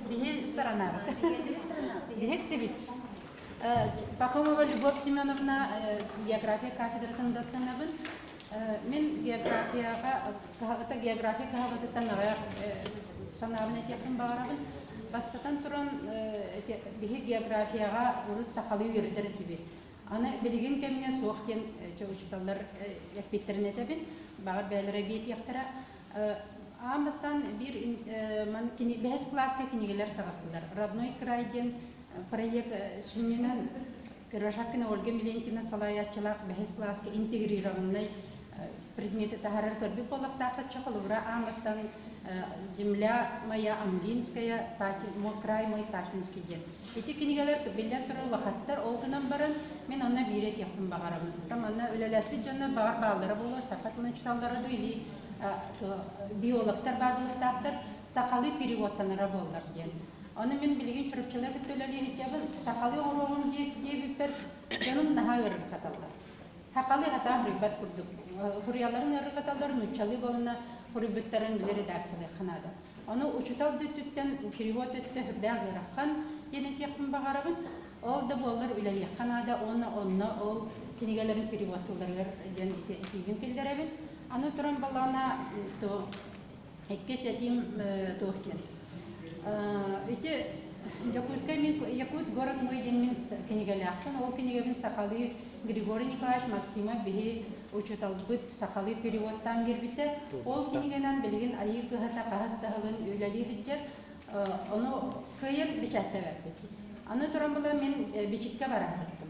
Биһи сторонабыт. Биһи эттибит. Пахомова Любовь Семеновна география кафедратын доценабын. Мен географияға каһабыта география каһабытыттан аҕай санаабын этиэхпин баҕарабын. Бастатан туран биһи географияға урут сахалыы үөрэтэр этибит. Аны билигин кэмҥэ суох диэн учууталлар эппиттэрин этэбин. Баҕар бэйэлэрэ биэтиэхтэрэ. Аан бастаан биир кини бэһис кылааска кинигэлэр таҕыстылар. «Родной край» диэн проект сүнньүнэн Ираһакина Ольга Миленкина салайааччылаах бэһис кылааска интегрированнай предмети таһарар көрбүт буоллахтаах оччо холобура аангастан земля моя ангинская мой край мой ташинский диэн ити кинигэлэр биллэн турар улахаттар ол гынан баран мин онно биири этиэхпин баҕарабын манна үлэлээспит дьоннор баҕар бааллара буолуо саха тылын учууталлара да или биологтар бааллыахтаахтар сахалыы переводтанара буоллар диэн ону мин билигин чурапчылар кытта үлэлиэбиттээбин сахалыы оҥоруоҕум диэбиппэр дьонум наһаа ырыттаталлар Хахали хатаан буруйбат курдук. Хуруйаларын ыарырҕаталлар, нууччалыы буоланна хуруйбуттарын билэ редакциялыахха наада. Ону учуутал да өттүттэн, перевод өттө сүрдээх ыарахан диэн этиэхпин баҕарабын. Ол да буоллар үлэлиэххэ наада уонна онно ол кинигэлэрин перевод тылларыгар диэн этиибин киллэрэбин. Аны туран балаана то Иккис этим туох диэн. Ити Дьокуускай Якутск город мой диэн мин кинигэлээхпин. Ол кинигэбин сахалыы Григорий Николаевич Максимов биһи учууталбыт сахалыы переводтаан биэрбитэ. Ол кинигэнэн билигин айыы кыһата хаһыс да сылын үлэлии сылдьар. Ону кыайан бэчээттэбэппит. Аны туран була мин бичиккэ бараһарбытым.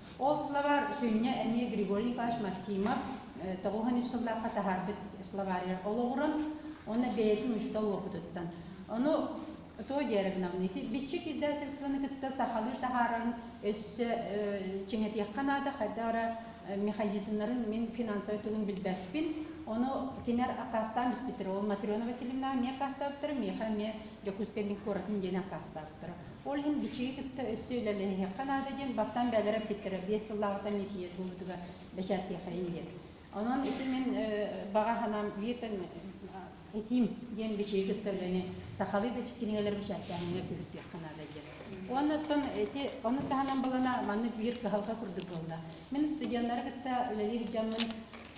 Ол слова сүнньэ эмиэ Григорий Николаевич Максимов тоҕуһан үс сыллаахха таһаарбыт словарьар олоҕуран уонна бэйэтин учуутал уопутуттан. Ону Тоо Деревновны, ити биччик издательствоны кытта сахалыы таһаарарын өссө чиҥэтиэххэ наада, хайда ара механизмнарын мин финансовый тылын билбэппин. Ону кинер аккаастаан испиттэр. Ол Матрена Васильевна эмиэ аккаастаабыттара, миэхэ эмиэ Дьокуускай мин куоратын диэн аккаастаабыттара. Ол иһин бичиги кытта өссө үлэлэһиэххэ наада диэн бастаан бэйэлэрэ эппиттэрэ биэс сыллааҕыта миэсийэ буолбутугар бэчээттиэхэйин диэн. Онон ити мин баҕа санаам биир этиим диэн бичиги кытта үлэни сахалыы кинигэлэри бэчээттээһиҥҥэ күһүттүөххэ наада диэн. Уонна оттон ити ону таһынан балана маннык биир кыһалҕа курдук буолла. Мин студеннары кытта үлэлиир дьоммун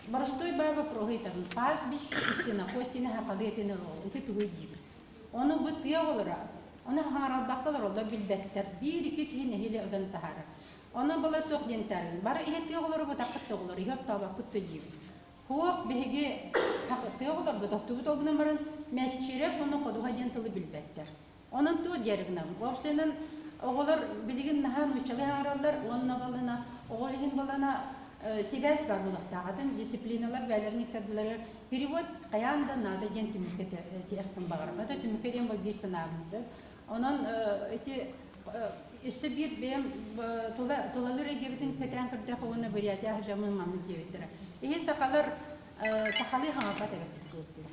боростуой баа боппуруоһу ыытабын. Паас биш кистина, хостина, хахалыы этин ырыал, ити тугуй диибин. Ону бу тыа оҕолоро ону хаҥаралбакка олороллор билбэттэр, биир-икки киһи нэһилиэ ытан таһаарар. Ону была туох диэн таарыйын, бары ihe тыа оҕолоро бытаххыт да оҕолор, ihe оттооботкут да диибит. Туох биһиги тыа оҕолорбут оттубут ол гынан баран Мэччирэп уонна Ходуһа диэн тылы билбэттэр. Онон туох диэри гынабын? Ол сынан оҕолор билигин наһаа нууччалыы хаҥараллар уонна балына оҕол иһин балана сибээс баар буолуохтаах атын дисциплиналар бэйэлэрин иттардылары Перевод хайаан да наада диэн түмүккэ этиэхпин баҕарабын. Это түмүккэ диэн бу биир санаабын сөп. Онон эти өссө биир бэйэм тула тулалыыр эйгэбитин кэтээн көрдөх уонна Бурятиях жамын мамыт диэбиттэрэ. Иһи сахалар сахалыы хаҥаппат эбэттик диэттэрэ.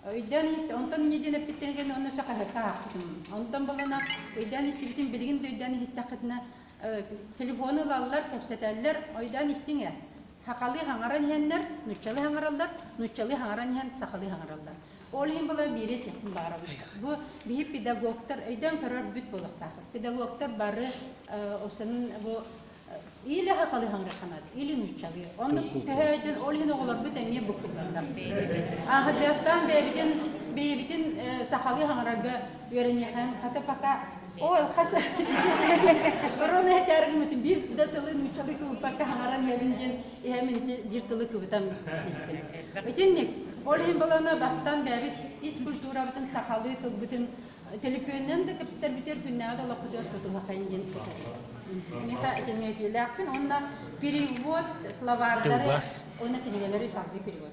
Өйдөөн иһиттэ, онтон неден эппиттэргин онно сахаһыкка аахпытым. Онтон балана өйдөөн истибитим, билигин да өйдөөн иһиттэххитинэ телефону ылаллар, кэпсэтэллэр, ойдөөн истиҥэ. сахалыы хаҥаран иһэннэр нууччалыы хаҥараллар нууччалыы хаҥаран иһэн сахалыы хаҥараллар ол иһин была биири этиэхпин баарабын бу биһи педагогтар өйдөөн көрөр бүт буолуохтааххыт педагогтар бары ол санын бу или сахалыы хаҥырханат или нууччалыы онно көһөөдүн ол иһин оҕолорбут эмиэ буккуллаллар ааһырдыастаан бэйэбитин бэйэбитин сахалыы хаҥарарга үөрэниэхэн хата пока Ой, хас Рона этээргимитин биир да тылы нууччалыы кылыппакка хаҥаран иһэбин диэн иһэм ити биир тылы кыбытан истим. Итинник ол иһин балана бастан бэбит ис культурабытын сахалыы тылбытын төлөпүөннэн да кэпсэтэрбитер күннэҕэ да олохпутугар тутумахайын диэн Миха этингэтиилээхпин онна перевод словардары онна кинигэлэри салгыы перевод